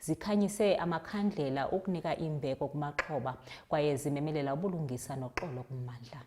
zikhanyise amakhandlela ukunika imbeko kumaxhoba kwaye zimemelela ubulungisa noxolo kummandla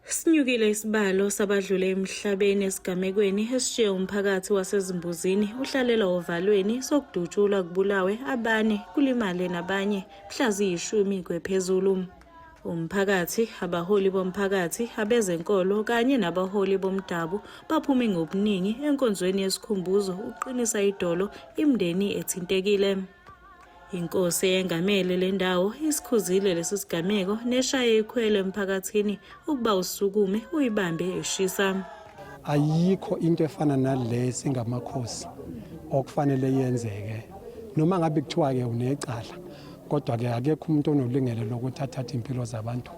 Sinyukile isibalo sabadlule emhlabeni esigamekweni esishiye umphakathi wasezimbuzini uhlalelwa ovalweni sokudutshulwa kubulawe abane kulimale nabanye mhla ziyishumi kwephezulu. umphakathi, abaholi bomphakathi, abezenkolo kanye nabaholi bomdabu baphume ngobuningi enkonzweni yesikhumbuzo ukuqinisa idolo imndeni ethintekile. Inkosi eyengamele le ndawo isikhuzile lesi sigameko neshaye ikhwelo emphakathini ukuba usukume uyibambe eshisa. ayikho into efana nale singamakhosi okufanele yenzeke noma ngabe kuthiwa ke unecala kodwa ke akekho umuntu onolungelo lokuthi athathe impilo zabantu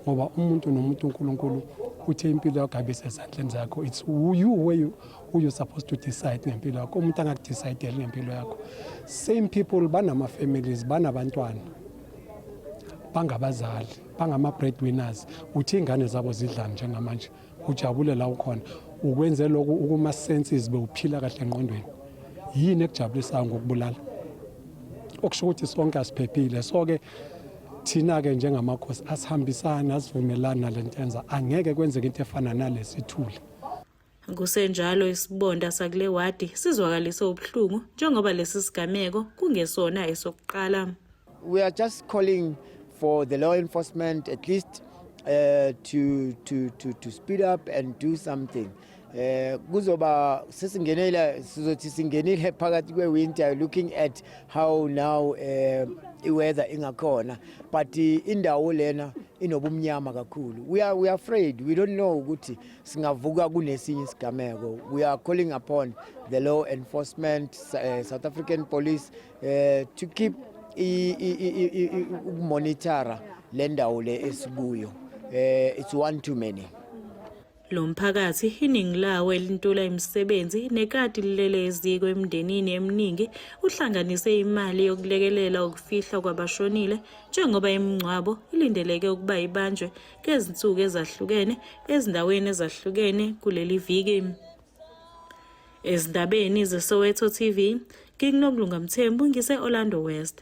ngoba umuntu nomuntu uNkulunkulu uthe impilo yakho abe sezandleni zakho it's you where you who you supposed to decide ngempilo yakho umuntu angakudecide ngempilo yakho same people banama families banabantwana bangabazali bangama breadwinners uthi ingane zabo zidlani njengamanje ujabule la ukhona ukwenze lokhu ukuma senses bewuphila kahle engqondweni yini ekujabulisayo ngokubulala okusho ukuthi sonke asiphephile so ke thina ke njengamakhosi asihambisana asivumelana nalentenza angeke kwenzeke into efana nalesithule Kusenjalo isibonda sakule wadi sizwakalise ubuhlungu njengoba lesi sigameko kungesona esokuqala. We are just calling for the law enforcement at least uh, to, to, to, to speed up and do something eh kuzoba sesingenela sizothi singenile phakathi kwe winter looking at how now eh iweather ingakhona but eh, indawo lena inobumnyama kakhulu we are we are afraid we don't know ukuthi singavuka kunesinye isigameko we are calling upon the law enforcement uh, South African police eh to keep ukumonitora le ndawo le esikuyo eh it's one too many lo mphakathi iningi lawo elintula imisebenzi nekati lilele eziko emndenini eminingi uhlanganise imali yokulekelela ukufihlwa kwabashonile njengoba imingcwabo ilindeleke ukuba ibanjwe ngezinsuku ezahlukene ezindaweni ezahlukene kuleli viki Ezindabeni zeSoweto TV, ngikunokulunga Mthembu ngise-Orlando West.